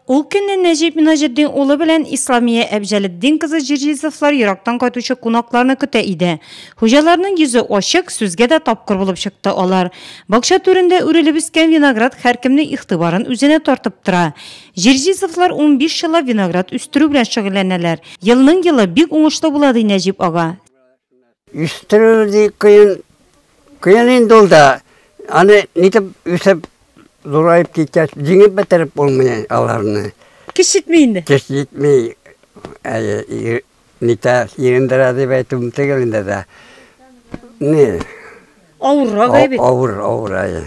Ул көнне Нәҗип Минаҗетдин улы белән Исламия Әбҗәлетдин кызы Җирҗизовлар ерактан кайтучы кунакларны көтә иде. Хуҗаларның йөзе ачык, сүзгә дә тапкыр булып чыкты алар. Бакча түрендә үрелеп үскән виноград һәркемнең игътибарын үзенә тартып тора. Җирҗизовлар унбиш еллап виноград үстерү белән шөгыльләнәләр. Елның-елы бик уңышлы була, ди Нәҗип ага. Үстерү ди кыен. Кыен инде ул да. Аны нитеп үсеп, зураеп киткәч, җиңеп бетереп булмый аларны. Көч җитми инде. Көч җитми. Әйе, нитә сирендерә дип әйтүем түгел инде дә. Ни? Авыррак әй бит. Авыр, авыр, әйе.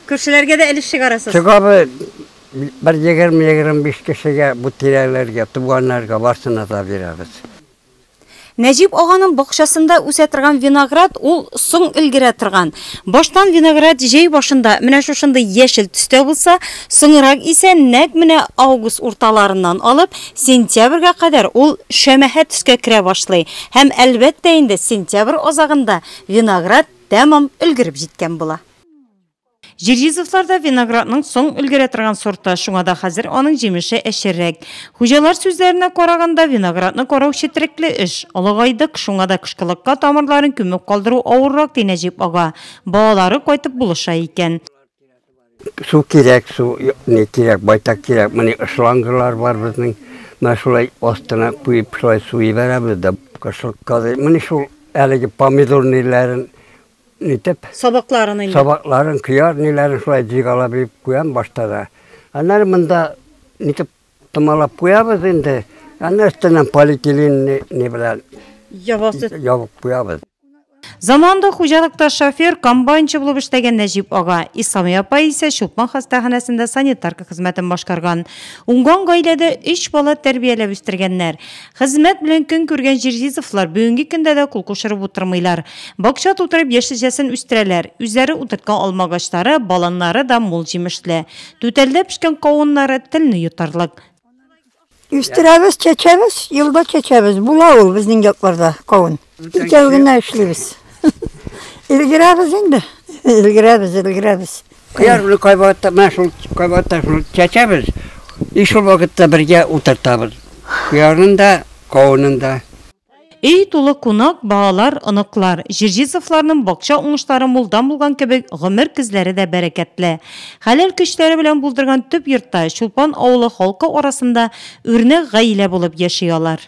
Күршеләргә дә өлеш чыгарасыз. Чыгабыз. Бер егерме-егерме биш кешегә, бу тирәләргә, туганнарга барсына да бирәбез. Нәҗип аганың бакчасында үсә торган виноград ул соң өлгерә торган. Баштан виноград җәй башында менә шушындый яшел төстә булса, соңрак исә нәкъ менә август урталарыннан алып сентябрьгә кадәр ул шәмәхә төскә керә башлый һәм, әлбәттә инде, сентябрь азагында виноград тәмам өлгереп җиткән була. Җирҗизовлар да виноградның соң өлгерә торган сорты, шуңа да хәзер аның җимеше әчеррәк. Хуҗалар сүзләренә караганда, виноградны карау четерекле эш. Олыгайдык, шуңа да кышкылыкка тамырларын күмеп калдыру авыррак, ди Нәҗип ага. Балалары кайтып булыша икән. Су кирәк, су ни кирәк, байтак кирәк. Моны шлангалар бар безнең. Менә шулай астына куеп, шулай су җибәрәбез дә кышкылыкка. Менә шул әлеге помидорныйларын Нитеп? Сабакларын инде. Сабакларын, кияр, ниләрен шулай җыйгалап еп куям башта да. Аннары монда нитеп томалап куябыз инде. Аннары өстеннән полиэтилен не, не белән Ябасы. ябып куябыз. Заманында хуҗалыкта шофер, комбайнчы булып эшләгән Нәҗип ага. Исламия апа исә Чулпан хастаханәсендә санитарка хезмәтен башкарган. Уңган гаиләдә өч бала тәрбияләп үстергәннәр. Хезмәт белән көн күргән Җирҗизовлар бүгенге көндә дә кул кушырып утырмыйлар. Бакча тутырып яшелчәсен үстерәләр. Үзләре утырткан алмагачлары, баланнары да мул җимешле. Түтәлдә пешкән кавыннары телне йотарлык. Үстерәбез, чәчәбез, елда чәчәбез. Була ул безнең якларда кавын. Икәү генә эшлибез. Өлгерәбез инде. Өлгерәбез, өлгерәбез. Кыяр белән кайвакытта менә шул кайвакытта шул чәчәбез. И шул вакытта бергә утыртабыз. Кыярын да, кавынын да. Өй тулы кунак, балалар, оныклар. Җирҗизовларның бакча уңышлары мулдан булган кебек, гомер көзләре дә бәрәкәтле. Хәләл көчләре белән булдырган төп йортта, Чулпан авылы халкы арасында үрнәк гаилә булып яши алар.